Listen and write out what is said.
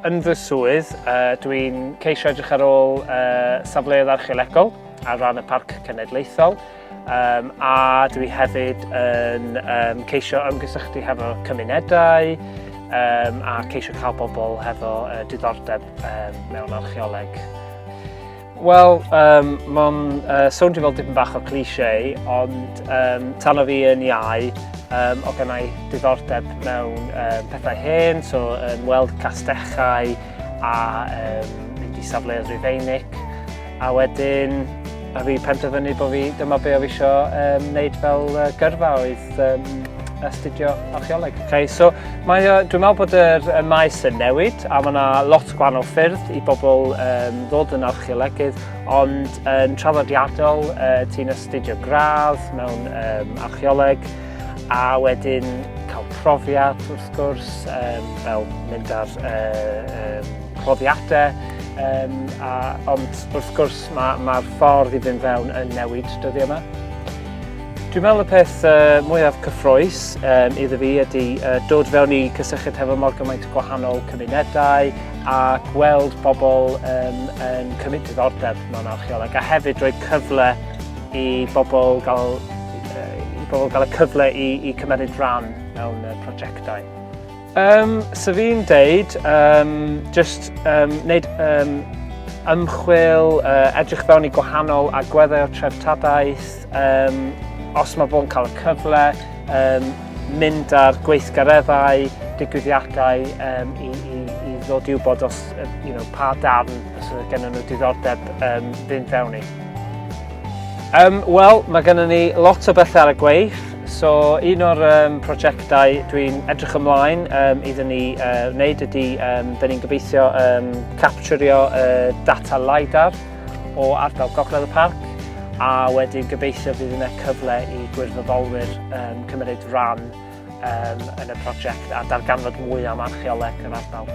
Yn fy swydd, uh, dwi'n ceisio edrych ar ôl uh, safleoedd archeolegol ar ran y Parc Cenedlaethol. Um, a dwi hefyd yn um, ceisio ymgysylltu hefo cymunedau um, a ceisio cael bobl hefo uh, diddordeb um, mewn archeoleg. Wel, um, mae'n uh, swnio fel dipyn bach o cliché, ond um, tan o fi yn iau, um, o gennau diddordeb mewn um, pethau hen, so yn um, weld castechau a um, mynd i safleoedd Rufeinig. A wedyn, a fi penderfynu bod fi, dyma be o fi isio um, wneud fel uh, gyrfa oedd um, astudio archeoleg. Okay, so mae, uh, dwi'n meddwl bod yr y maes yn newid a mae yna lot o gwahanol ffyrdd i bobl um, ddod yn archeolegydd ond yn traddodiadol uh, ti'n astudio gradd mewn um, archeoleg a wedyn cael profiad wrth gwrs um, fel mynd ar uh, um, rhoddiadau, um, a, ond wrth gwrs mae'r ma, ma ffordd i fynd fewn yn newid dyddiau yma. Dwi'n meddwl y peth uh, mwyaf cyffroes um, iddo fi ydy uh, dod fewn i cysylltiad hefo mor gymaint o gwahanol cymunedau a gweld pobl um, yn cymryd diddordeb mewn archeoleg a hefyd rhoi cyfle i bobl gael, uh, i bobl gael y cyfle i, i cymeryd rhan mewn uh, prosiectau. Um, so fi'n deud, um, just um, wneud um, ymchwil, uh, edrych fewn i gwahanol agweddau o treftadaeth, um, os mae fo'n cael y cyfle, um, mynd ar gweithgareddau, digwyddiadau um, i, i, i ddod i'w bod os, you know, pa darn sydd gennym nhw diddordeb um, fynd fewn i. Um, Wel, mae gennym ni lot o bethau ar y gweith. So, un o'r um, prosiectau dwi'n edrych ymlaen um, iddyn ni uh, wneud ydy, um, dyn ni'n gobeithio um, capturio uh, data LiDAR o ardal Gogledd y Parc a wedyn gobeithio fydd yna cyfle i gwirfoddolwyr um, cymryd rhan um, yn y prosiect a darganfod mwy am archeoleg yr ardal.